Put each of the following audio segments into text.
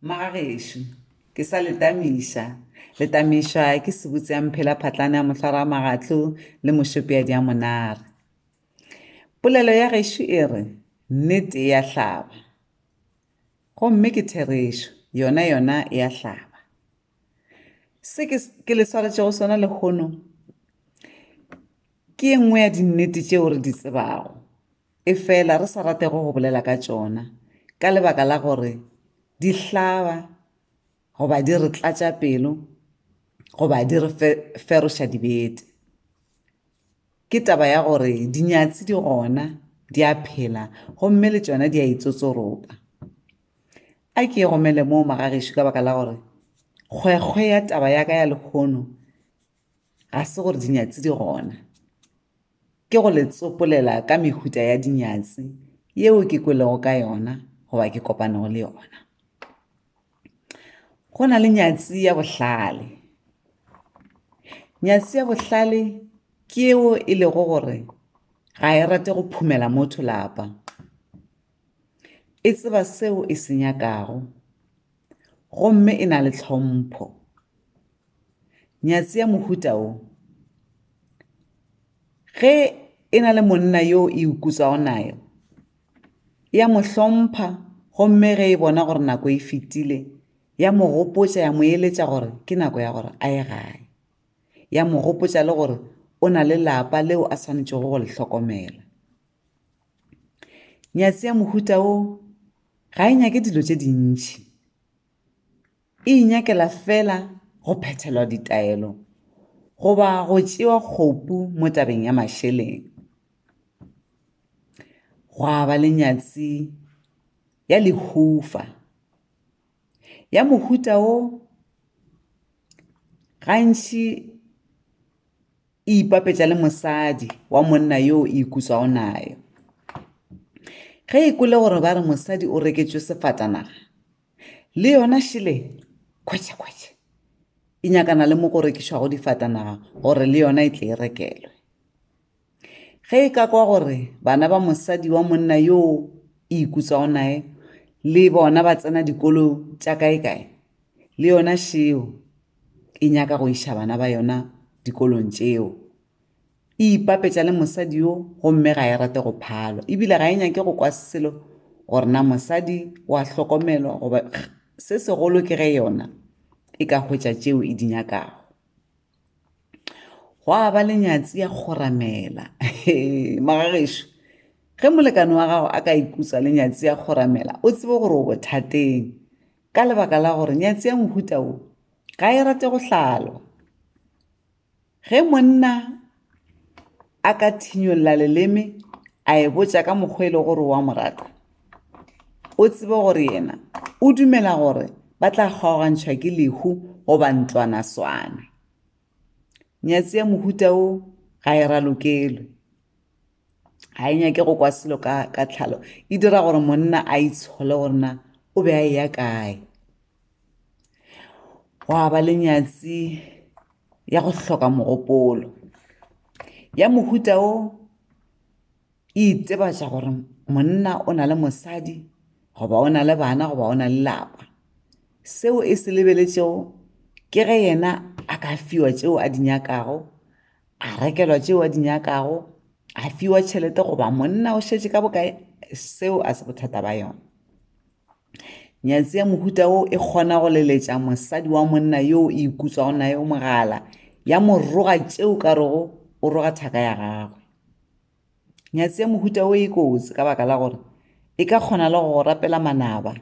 Magagešo, ke sa le tamiša. Le tamišwa ke sebutse ya mphela phatlana ya mohlwara magatlo le mošope ya diamonare. Polelo ya gešo e re, nnete e a hlaba. Gomme ke therešo, yona yona e a hlaba. Se ke, ke le swaretšego sona lehono, ke e nngwe ya dinnete tšeo re di tsebago. efela re sa ratego go bolela ka tšona ka lebaka la gore di hlaba goba di re tlatša pelo goba di re feroša dibete. Ke taba ya gore dinyatsi di gona di a phela gomme le tšona di a itsotsoropa. A ke romele moo magagešo ka baka la gore kgwekgwe ya taba ya ka ya lehono Ga se gore dinyatsi di gona. Ke go le tsopolela ka mehuta ya dinyatsi yeo ke kwelego ka yona goba ke kopanego le yona. Go na le nyatsi ya bohlale. Nyatsi ya bohlale ke yeo e lego gore ga e rate go phumela motho lapa. E tseba seo e se nyakago, gomme e na le tlhompho nyatsi ya mohuta o ge e na le monna yo e ukutsago nayo ya mo hlompha gomme ge e bona gore nako e fetile ya mo gopotša ya mo eletša gore ke nako ya gore a ye gae ya mo gopotša le gore o na le lapa leo a swanetšego go le hlokomela nyatsi ya mohuta o ga e nyake dilo tše dintšhi e inyakela fela go phethelwa ditaelo goba go tšewa kgopu mo tabeng ya mašeleng gwa ba le nyatsi ya lehufa ya mohuta wo gantši e ipapetša le mosadi wa monna yo o ikutsago nayo ge e kwele gore ba re mosadi o reketšwe sefatanaga le yona šele khwetšekhwetše e nyakana le mo go rekišwago difatanaga gore le yona e tle e rekelwe Ge e ka kwa gore bana ba mosadi wa monna yo e ikutswago nae le bona ba tsena dikolo tša kaekae, le yona šeo e nyaka go iša bana ba yona dikolong tšeo. E ipapetša le mosadi yo gomme ga e rate go phalwa ebile ga e nyake go kwa selo gore na mosadi wa hlokomelwa goba se segolo ke ge yona e ka hwetša tšeo e di nyakago. gwa ba le nyatsi ya kgoramela magagešo ge molekane wa gago a ka ikutswa le nyatsi ya kgoramela o tsebe gore o bothateng ka lebaka la gore nyatsi ya mohuta o ga e rate go hlalwa ge monna a ka thinyolla leleme a e botša ka mokgwa e le gore wa mo rata o tsebe gore yena o dumela gore ba tla kgaogantšhwa ke lehu goba ntlwana swana nyatsi ya mohuta o ga e ralokelwe ga e nyake go kwa selo ka, ka tlhalo e dira gore monna a itshole gore na o be a eya kae gwa ba le nyatsi ya go hloka mogopolo ya mohuta wo e itsebatša gore monna o na le mosadi goba o na le bana goba o na le lapa seo e se lebeletšego ke ge yena a ka fiwa tšeo a di nyakago a rekelwa tšeo a di nyakago a fiwa tšhelete goba monna o šetše ka bokae seo a se bothata ba yona Nyatsi ya mohuta wo e kgona go leletša mosadi wa monna yo e ikutswago naye o mogala ya mo roga tšeo ka rego o roga thaka ya gagwe. Nyatsi ya mohuta wo e kotsi ka baka la gore e ka kgona le go rapela manaba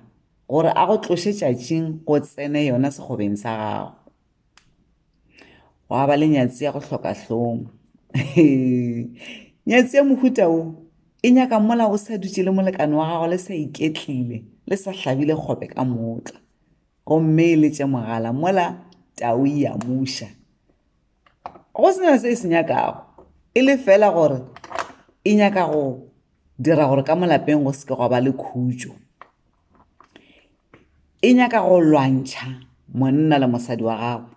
gore a go tloše tšatšing go tsene yona sekgobeng sa gago. gwa ba le nyatsi ya go hloka hlong nyatsi ya mohuta o e nyaka mola o sa dutse le molekane wa gago le sa iketlile le sa hlabile kgobe ka motla gomme e letše mogala mola tau e ya muša go sena se e se nyakago e le fela gore e nyaka go dira gore ka molapeng go seke gwa ba le khutšo e nyaka go lwantšha monna le mosadi wa gagwe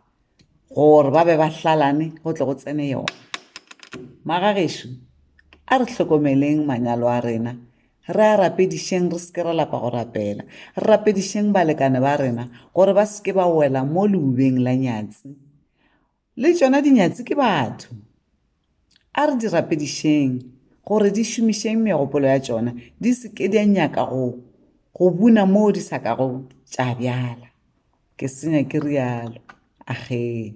gore ba be ba hlalane go tle go tsene yona magagešo a re hlokomeleng manyalo a rena re a rapedišeng re seke ra lapa go rapela re rapedišeng balekane ba rena gore ba seke ba wela mo leubeng la nyatsi Le tšona dinyatsi ke batho. A re di rapedišeng gore di šomišeng megopolo ya tšona di se ke di a nyaka go go buna moo di sa ka go tša bjala. Ke senya ke rialo. Agee.